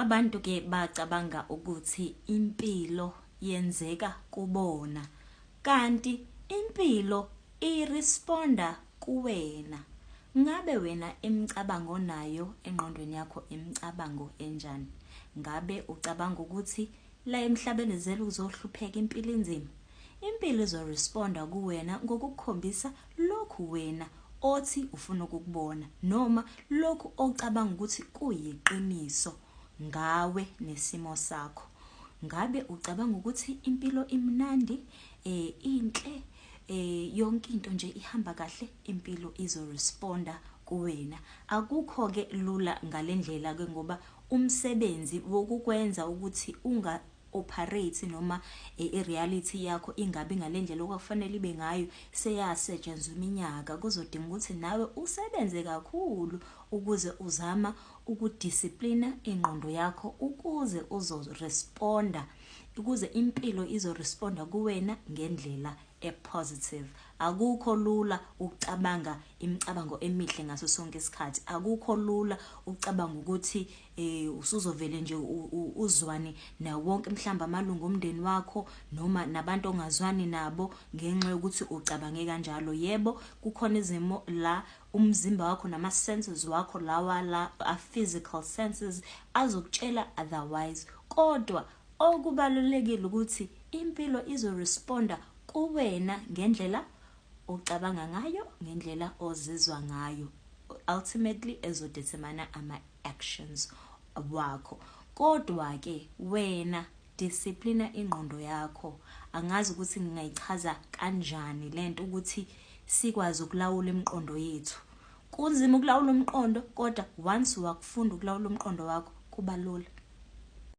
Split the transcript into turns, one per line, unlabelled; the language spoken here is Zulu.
Abantu ke bacabanga ukuthi impilo yenzeka kubona kanti impilo iresponda kuwena. Ngabe wena imicabango onayo engqondweni yakho imicabango enjani? Ngabe ucabanga ukuthi la emhlabeni uzele ukuzohlupheka impilo inzima? Impilo izo responda kuwena ngokukukhombisa lokhu wena othi ufuna ukukubona noma lokhu ocabanga ukuthi kuyiqiniso ngawe nesimo sakho. Ngabe ucabanga ukuthi impilo imnandi, eh inhle, eh yonke into nje ihamba kahle, impilo izo responda kuwena. Akukho ke lula ngalendlela ke ngoba umsebenzi wokukwenza ukuthi unga operate noma i reality yakho ingabi ngalendlela okwakufanele ibe ngayo seyasetshenzwa iminyaka kuzodinga ukuthi nawe usebenze kakhulu ukuze uzama ukudisciplina ingqondo yakho ukuze uzoresponda ukuze impilo izoresponda kuwena ngendlela epositive akukho lula ukucabanga imicabango emihle ngaso sonke isikhathi akukho lula ukucabanga ukuthi eh usuzovele nje uzwane nawo wonke mhlamba amalungu omndeni wakho noma nabantu ongazwani nabo ngenxa yokuthi ucabange kanjalo yebo kukhona izimo la umzimba wakho nama senses wakho lawa la a physical senses azokutshela otherwise kodwa okubalulekile ukuthi impilo izo responda kuwena ngendlela ocabanga ngayo ngendlela ozizwa ngayo ultimately ezodetermine ama actions wakho kodwa ke wena disciplina ingqondo yakho angazi ukuthi ngingayichaza kanjani lento ukuthi sikwazi ukulawula imiqondo yethu kunzima ukulawula umqondo kodwa once wakufunda ukulawula umqondo wakho kuba lula